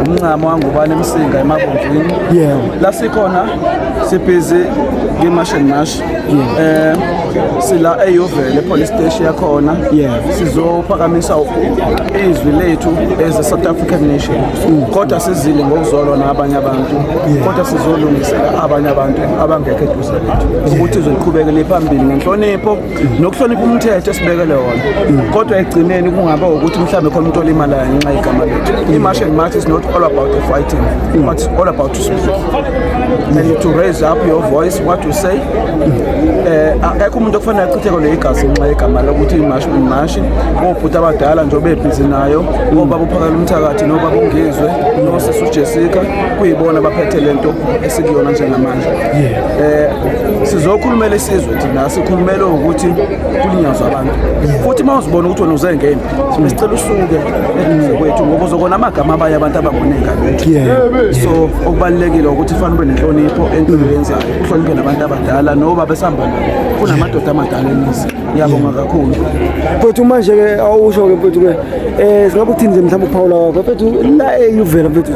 umncamo wangubani emsinga emabomvini yeah. la sikhona sibhizi nge-marsh and marsh yeah. eh sila eyovele police station yakhona yeah. sizophakamisa izwi lethu as a south african nation mm. kodwa sizile ngokuzolwa nabanye abantu yeah. kodwa sizolungisela abanye abantu abangekho eduze lethu ukuthi izoqhubekele phambili ngenhlonipho nokuhlonipha umthetho esibekele wona kodwa ekugcineni kungaba ukuthi mhlawumbe khona umuntu olimalayo ngenxa yegama lethu i-march and march is not all about the fighting but it's all about to speak and to raise up your voice what you say eh, akekho umuntu okufanele achitheko le igazi ngenxa yegama lokuthi imashi imashi obhuti abadala nje obebhizi nayo obaba uphakala umthakathi nobaba ungizwe nosisi ujessica kuyibona baphethe le nto esikuyona njengamanje eh sizokhulumela isizwe thina sikhulumela ukuthi kulinyazwa abantu futhi uma uzibona ukuthi wena uzengeni sicela usuke eduze kwethu ngoba uzokona amagama abanye abantu abangonenga so okubalulekile ukuthi fanele ube nenhlonipho entweni yenzayo uhloniphe nabantu abadala noba besihamba nabo kunamadoda amadala emizi ngiyabonga kakhulu mfethu manje-ke awusho-ke mfethu-ke um eh, singabe ukuthini nje mhlawumbe ukuphawula kwakho mfethu la eyuvela mfethu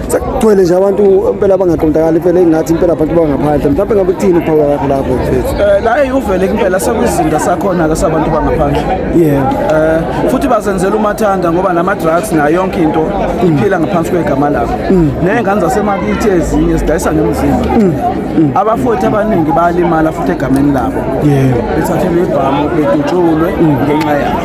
sekugcwele nje abantu impela abangaqondakali impela engathi impela abantu bangaphandle mhlawumbe ngabe kuthini ukuphawula kwakho lapho mfethu eh, la eyuvele impela sekwizinda sakhona-ke sabantu bangaphandle yebo eh, um futhi bazenzela umathanda ngoba nama-drugs nayo yonke into iphila ngaphansi kwegama lakho mm. ney'ngane zasemakithi ezinye sidayisa ngemzimba mm. mm. abafothi abaningi bayalimala futhi egameni labo bethathe nebhamu bedutshulwe mm. ngenxa yabo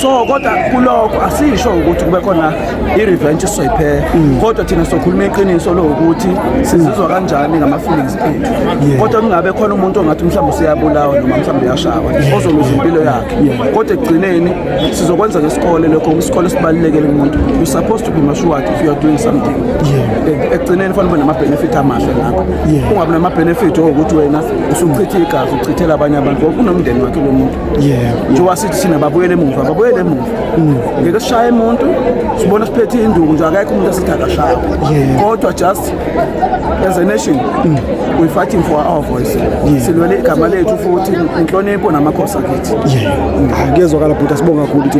so kodwa kulokho asisho ukuthi kube khona i-revenge isoyiphela mm. kodwa thina sokhuluma iqiniso lokuthi sizizwa kanjani ngama-feelings ethu kodwa kungabe khona umuntu ongathi mhlawumbe useyabulawa noma mhlawumbe uyashawa ozoluza impilo yakhe kodwa ekugcineni sizokwenza ngesikole lokho isikole sibalulekele kumuntu you supposed to be matured if you are doing something yeah. ekugcineni fanele ube nama-benefit amahle ngakho yeah. ungabi nama-benefit okuthi wena usuchithe igazi uchithela abanye abantu ngoba kunomndeni wakhe lo muntu yeah. njengoba sithi thina babuyele emuva babuyele emuva mm. ngeke sishaye umuntu sibona siphethe induku nje akekho umuntu esithi akashaye yeah. kodwa just as a nation mm. we fighting for our voice yeah. silwele igama lethu futhi inhlonipho namakhosi akithi yeah. ngiyezwakala bhuti asibonga kakhulu ukuthi